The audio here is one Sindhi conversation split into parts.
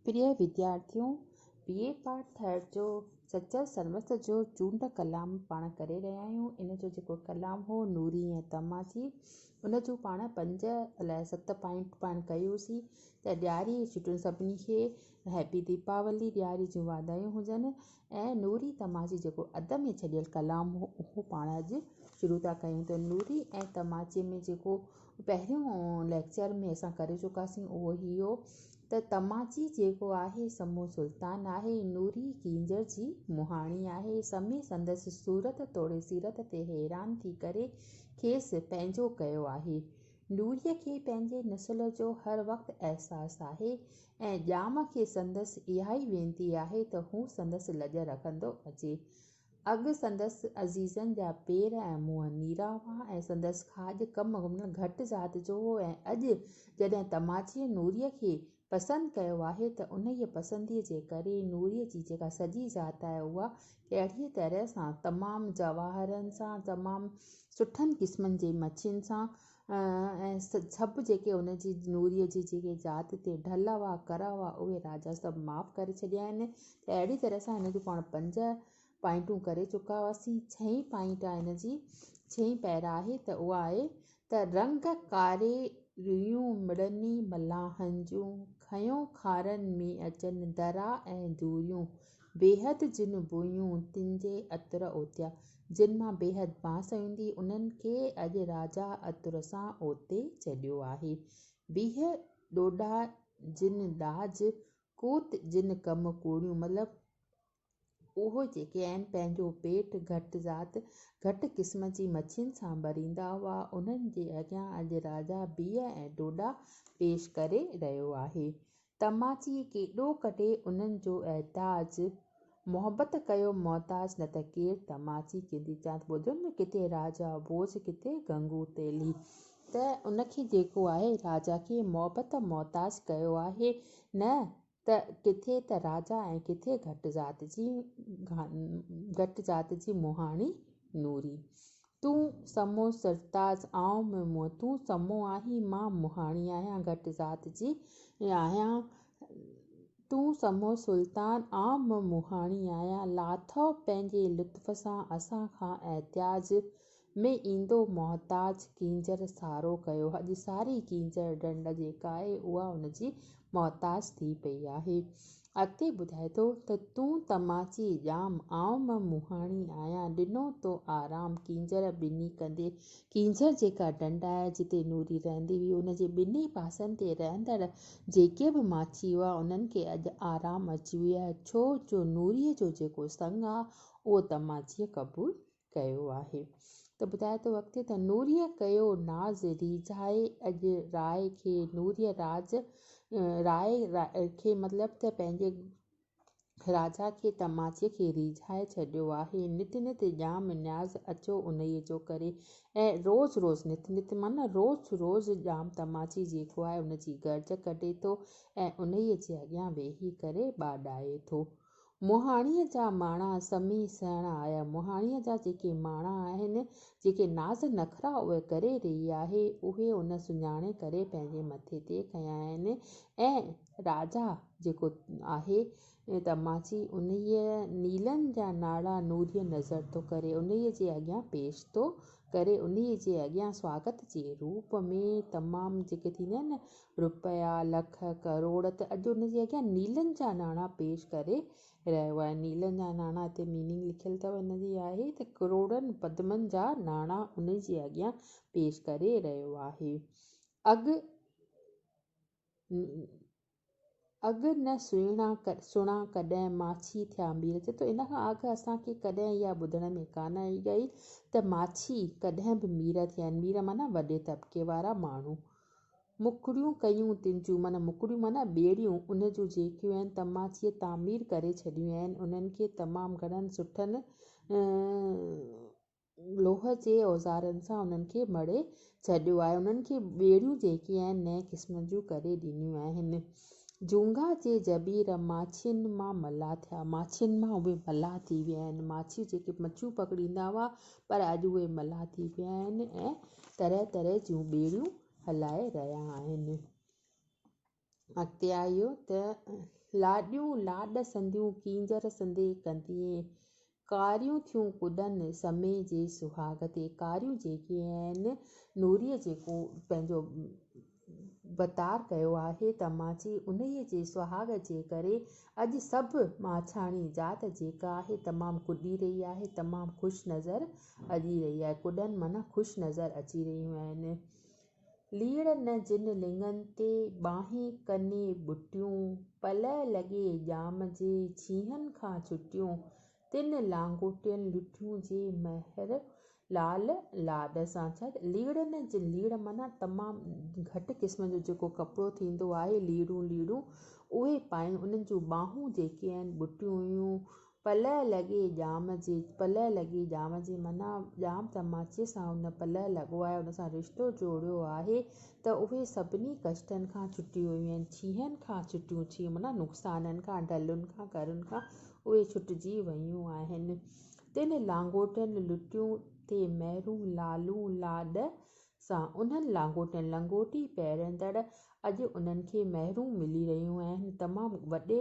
پريي وديارٿيو! بي اي پاس ٿيڻ جو سچل سرمست جو چونڊ ڪلام پاڻ ڪري رهيا آهيون. ان جو جيڪو ڪلام هو نوري ۽ طمع ٿي، ان جون پاڻ پنج الائي ست پوائنٽ پاڻ ڪيوسين ته ڏياري جي ڇٽين سڀني کي هيپي ديپاولي، ڏياري جون واڌايون هجن ۽ نوري طمع جي جيڪو اڌ ۾ ڇڏيل ڪلام هو اهو پاڻ اڄ شروع ٿا ڪيون ته نوري ۽ طمع ۾ جيڪو پهريون ليڪچر ۾ اسان ڪري چڪاسين اهو هي هو ته تماچي جيڪو آهي سمو سلطان آهي نوري ڪينجهر جي مهاڻي آهي سمي سندس صورت توڙي سيرت تي حيران ٿي ڪري کيس پنهنجو ڪيو آهي نوري کي پنهنجي نسل جو هر وقت احساس آهي ۽ ڄام کي سندس اهائي وينتي آهي ته هو سندس لڄ رکندو اچي اڳ سندس عزيزن جا پير ۽ منهن نيرا هئا ۽ سندس کاڄ ڪم ۾ گهٽ ذات جو هو ۽ اڄ جڏهن تماچيء نوريء کي پسند ڪيو آهي ته انهيء پسنديء جي ڪري نوريء جي جيڪا سڄي ذات آهي اها اهڙيء طرح سان تمام جواهرن سان تمام سٺن قسمن جي مڇين سان ۽ سڀ جيڪي هن جي نوريء جي جيڪي ذات تي ڍل هئا، ڪر هئا، اهي راجا سڀ معاف ڪري ڇڏيا آهن ته اهڙي طرح سان هن جون پاڻ پنج پائنٽون ڪري چڪا هئاسين. ڇهين پائنٽ آهي هن جي، ڇهين پيرا آهي ته اها آهي ته رنگ ڪاري ريون مڙني ملاحن جون، کنيون کارن ۾ اچن درا ۽ دوريون. بيحد جن بويون تن جي عطر اوتيا، جن مان بيحد بانس ايندي، انهن کي اڄ راجا عطر سان اوتي ڇڏيو آهي. بيح ڏوڏا جن ڏاج، ڪوت جن ڪم ڪوڙيون مطلب اهو جيڪي عين پنهنجو پيٽ گهٽ ذات، گهٽ قسم جي مڇين سان ڀريندا هئا، انهن جي اڳيان اڄ راجا بيح ۽ ڏوڏا پيش ڪري رهيو آهي. تماچيء ڪيڏو ڪڍي انهن جو احتاج، محبت ڪيو محتاج نه ته ڪير تماچي ڪندي چانت ٻڌن نه ڪٿي راجا ڀوڄ ڪٿي گنگو تيلي ته ان کي جيڪو آهي راجا کي محبت محتاج ڪيو آهي نه ته ڪٿي ته راجا ۽ ڪٿي گهٽ ذات جي گهٽ ذات جي مهاڻي نوري تون سمو سرتاز آئون مهمون. تون سمو آهين مان مهاڻي آهيان گهٽ ذات جي آهيان. تون سمو سلطان آئون به مهاڻي آهيان. لاٿو پنهنجي لطف سان اسان کان احتياج ۾ ايندو محتاج ڪينجهر سارو ڪيو. اڄ ساري ڪينجهر ڍنڍ جيڪا آهي اها ان جي محتاج ٿي پئي آهي. اڳتي ٻڌائي ٿو ته تون تماچي ڄام، آئون مئن مهاڻي آهيان، ڏنو تو آرام ڪينجهر ٻني ڪندي. ڪينجهر جيڪا ڍنڍ آهي جتي نوري رهندي هئي، ان جي ٻنهي پاسن تي رهندڙ جيڪي به ماڇي هئا، انهن کي اڄ آرام اچي ويو آهي، ڇو جو نوريء جو جيڪو سڱ آهي، اهو تماچيء قبول ڪيو آهي ته ٻڌايو ته وقتي ته نوريء ڪيو ناز ريجهائي اڄ راء کي نوريء راز راء کي مطلب ته پنهنجي راجا کي ته ماڇيء کي ريجهائي ڇڏيو آهي نت نت ڄام نياز اچو انهيء جو ڪري ۽ روز روز نت نت معنيٰ روز روز ڄام ته ماڇي جيڪو آهي ان جي گرج ڪڍي ٿو ۽ انهيء جي اڳيان ويهي ڪري ٻاڏائي ٿو مهاڻيء جا ماڻا سمهي سهڻا آيا. مهاڻيء جا جيڪي ماڻا آهن، جيڪي ناز نخرا اهي ڪري رهي آهي، اهي ان سڃاڻي ڪري پنهنجي مٿي تي کنيا آهن ۽ راجا جيڪو آهي تماچي، انهيء نيلن جا ناڙا نوريء نظر ٿو ڪري، انهيء جي اڳيان پيش ٿو ڪري، انهيء جي اڳيان سواگت جي روپ ۾ تمام جيڪي ٿيندا آهن نه رپيا، لک، ڪروڙ ته اڄ ان جي اڳيان نيلن جا ناڻا پيش ڪري رهيو آهي. نيلن جا ناڻا هتي ميننگ لکيل اٿو ان جي آهي ته ڪروڙن پدمن جا ناڻا ان جي اڳيان پيش ڪري رهيو آهي. اڳ ن. اڳ نه سهڻا سڻا ڪڏهن ماڇي ٿيا مير چي ٿو ان کان اڳ اسان کي ڪڏهن اها ٻڌڻ ۾ ڪانه آئي گئي ته ماڇي ڪڏهن به مير ٿيا آهن مير معنيٰ وڏي طبقي وارا ماڻهو مڪڙيون ڪيون تن جون معنيٰ مڪڙيون معنيٰ ٻيڙيون ان جون جيڪيون آهن تماچيء تعمير ڪري ڇڏيون آهن انهن کي تمام گهڻن سٺن لوهه جي اوزارن سان انهن کي مڙهي ڇڏيو آهي. انهن کي ٻيڙيون جيڪي آهن نئين قسم جون ڪري ڏنيون آهن. جونگا جي جبير ماڇين مان ملاح ٿيا. ماڇين مان اهي ملاح ٿي ويا آهن. ماڇيون جيڪي مڇيون پڪڙيندا هئا پر اڄ اهي ملاح ٿي ويا آهن ۽ طرح طرح جون ٻيڙيون هلائي رهيا آهن. اڳتيآيو ته، لاڏيون لاڏ سنديون ڪينجهر سندي ڪنديئين، ڪاريون ٿيون ڪڏن سمي جي سهاڳ تي، ڪاريون جيڪي آهن، نوريء جيڪو پنهنجو وتار ڪيو آهي ته ماڇي انهيء جي سهاڳ جي ڪري اڄ سڀ ماڇياڻي ذات جيڪا آهي تمام ڪڏي رهي آهي، تمام خوش نظر اڄي رهي آهي، ڪڏن معنيٰ خوش نظر اچي رهيون آهن. ليڙ نه جن لڱن تي، ٻانهين ڪني ٻٽيون، پلئه لڳي ڄام جي، ڇيهن کان ڇٽيون، تن لانگوٽين لٺيون جي، مهر لال لاڏ سان ڇڏ. ليڙ نه جن، ليڙ معنيٰ تمام گهٽ قسم جو جيڪو ڪپڙو ٿيندو آهي، ليڙون، ليڙون، اهي پائين، انهن جون ٻانهون جيڪي آهن، ٻٽيون هيون، پلئه لڳي ڄام جي، پلئه لڳي ڄام جي معنيٰ ڄام تماچي سان هن پلئه لڳوائي ان سان رشتو جوڙيو آهي ته اهي سڀني ڪشٽن کان ڇٽيون ويون، ڇيهن کان ڇٽيون، ڇيهن معنيٰ نقصانن کان، ڍلن کان، ڪرن کان اهي ڇٽجي ويون آهن. تن لانگوٽن لٽيون ٿي مهرون، لالون، لاڏ سان انهن لانگوٽن لنگوٽي پهرندڙ اڄ انهن کي مهرون ملي رهيون آهن، تمام وڏي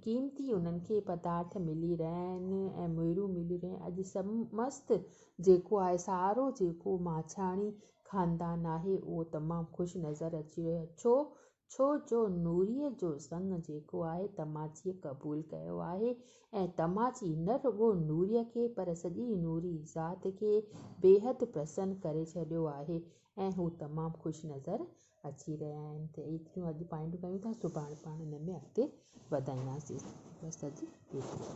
قيمتي انهن کي پدارٿ ملي رهيا آهن ۽ مهرون ملي رهيون آهن، اڄ سمست جيڪو آهي سارو جيڪو ماڇاڻي خاندان آهي اهو تمام خوش نظر اچي رهيو آهي ڇو ڇو جو نوريء جو سڱ جيڪو آهي تماچيء قبول ڪيو آهي ۽ تماچي نه رڳو نوريء کي پر سڄي نوري ذات کي بيحد پرسن ڪري ڇڏيو آهي ۽ هو تمام خوش نظر اچي رهيا آهن ته ايتريون اڄ پوائنٽون ڪيون ٿا سڀاڻي پاڻ ان ۾ اڳتي وڌائينداسين بس اڄ ايترو.